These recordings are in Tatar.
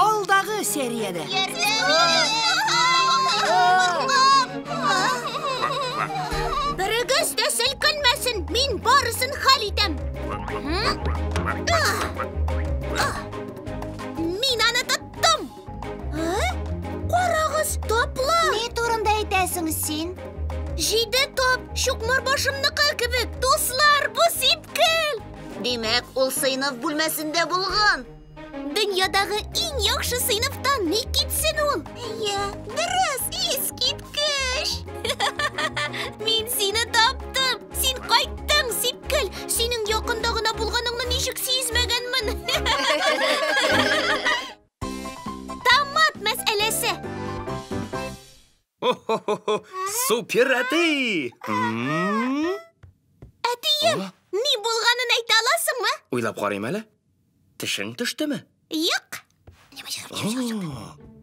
Алдагы сериядә. Берегез дә селкенмәсен, мин барысын хәл итәм. Мин аны тоттым. Карагыз, таплы. Ни турында әйтәсең син? Җиде тап, чукмар башымныкы кебек. Дуслар, бу сипкел. Димәк, ул сыйныф бүлмәсендә булган. Дөньядагы иң яхшы сыйныфтан ни китсен ул? Әйе, дөрес, искиткеч! Мин сине таптым! Син кайттың, Сипкел! Синең якында гына булганыңны ничек сизмәгәнмен! Томат мәсьәләсе. Ho-ho-ho-ho! Супер әти! Әтием, ни булганын әйтә аласыңмы? Уйлап карыйм әле. Тешең төштеме? Юк.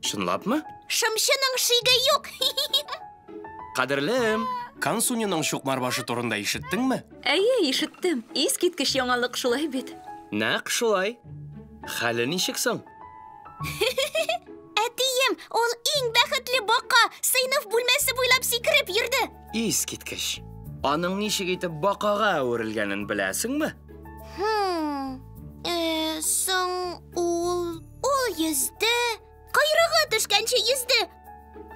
Чынлапмы? Шымчының шиге юк. Кадерлем, Кансуниның чукмар башы турында ишеттеңме? Әйе, ишеттем. Искиткеч яңалык шулай бит. Нәкъ шулай. Хәле ничек соң? Әтием, ул иң бәхетле бака, сыйныф бүлмәсе буйлап сикереп йөрде. Искиткеч. Аның ничек итеп бакага әверелгәнен беләсеңме? Хм. Э, соң ул ул йөзде, койрыгы төшкәнче йөзде.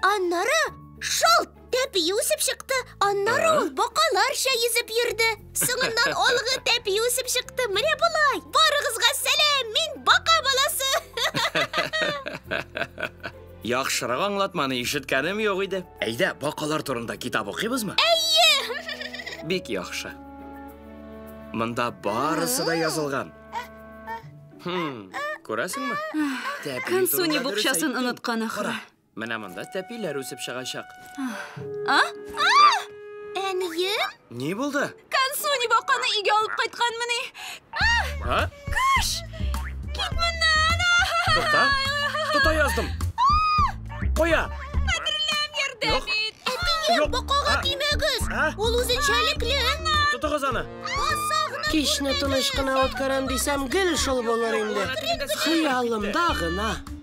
Аннары шалт Тәпи үсеп чыкты, аннары ул бакаларча йөзеп йөрде. Соңыннан алгы тәпи үсеп чыкты. Менә болай. Барыгызга сәлам, мин бака баласы. Яхшырак аңлатманы ишеткәнем юк иде. Әйдә, бакалар турында китап укыйбызмы? Әйе! Бик яхшы. Монда барысы да язылган. Хм, күрәсеңме? Тәпи Кансуни турында дөрес букчасын әйттең. оныткан ахры. Кара, Менә монда тәпиләр үсеп чыгачак. А? А! Әнием? Ни булды? Кансуни баканы өйгә алып кайткан мени? А? Кыш! Кит моннан! Тукта. Тота яздым. Куя. Хәтерләм ярдәм Юк. ит. Әтием, бакага тимәгез. Ул үзенчәлекле. Тотыгыз аны. Кичне тыныч кына үткәрәм дисәм, гел шул булыр инде. Хыялымда гына.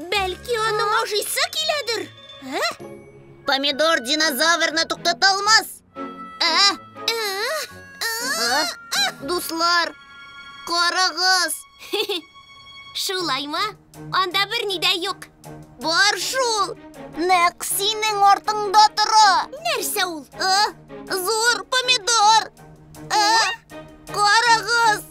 Бәлки аның ашыйсы киләдер? Ә? Помидор динозаврны туктата алмас. Ә? Ә? Ә? Дуслар, карагыз. Шулаймы? Анда берни дә юк. Бар шул. Нәкъ синең артыңда тора. Нәрсә ул? Ә? Зур помидор. Ә? Карагыз!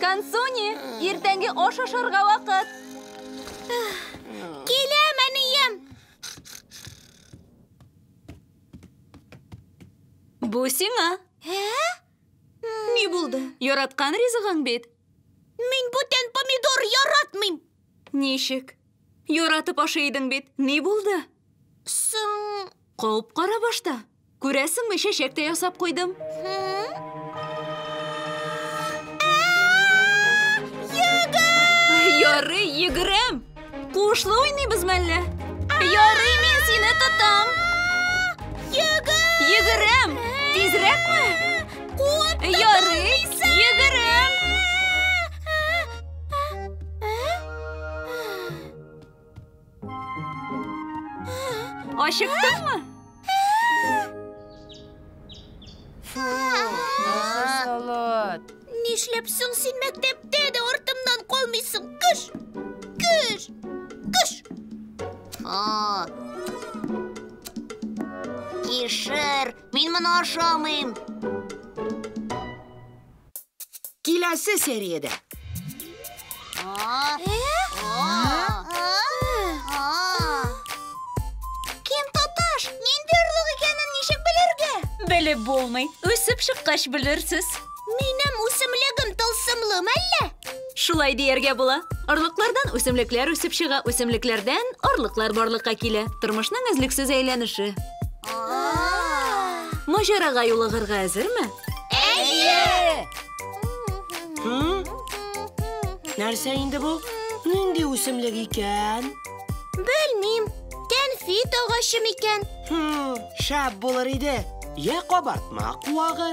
Кансуни, иртәнге аш ашарга вакыт. Киләм, әнием! Бу сиңа. Ә? Ни булды? Яраткан ризыгың бит. Мин бүтән помидор яратмыйм. Ничек? Яратып ашый идең бит. Ни булды? Соң... Кауып кара башта. Күрәсеңме, чәчәк тә ясап куйдым. Ярый, йөгерәм. Куышлы уйныйбыз мәллә? Ярый, мин сине тотам. Йөгер! Йөгерәм! Тизрәкме? Куып Ярый, йөгерәм! Ачыктыңмы? Нишләп соң син мәктәптә дә артымнан калмыйсың? Кыш! Кыш! Кыш! О! Кишер, мин моны ашамыйм. Киләсе сериядә. Кем тоташ? Нинди орлык икәнен ничек белергә? Белеп булмый. Үсеп чыккач белерсез. Минем үсемлегем тылсымлы мәллә? Шулай дияргә була. Орлыклардан үсемлекләр үсеп чыга, үсемлекләрдән орлыклар барлыкка килә. Тормышның өзлексез әйләнеше. Маҗарага юлыгырга әзерме? Нәрсә инде бу? Нинди үсемлек икән? Белмим. Кәнфит агачы микән? Хм, шәп булыр иде. Я кабартма куагы.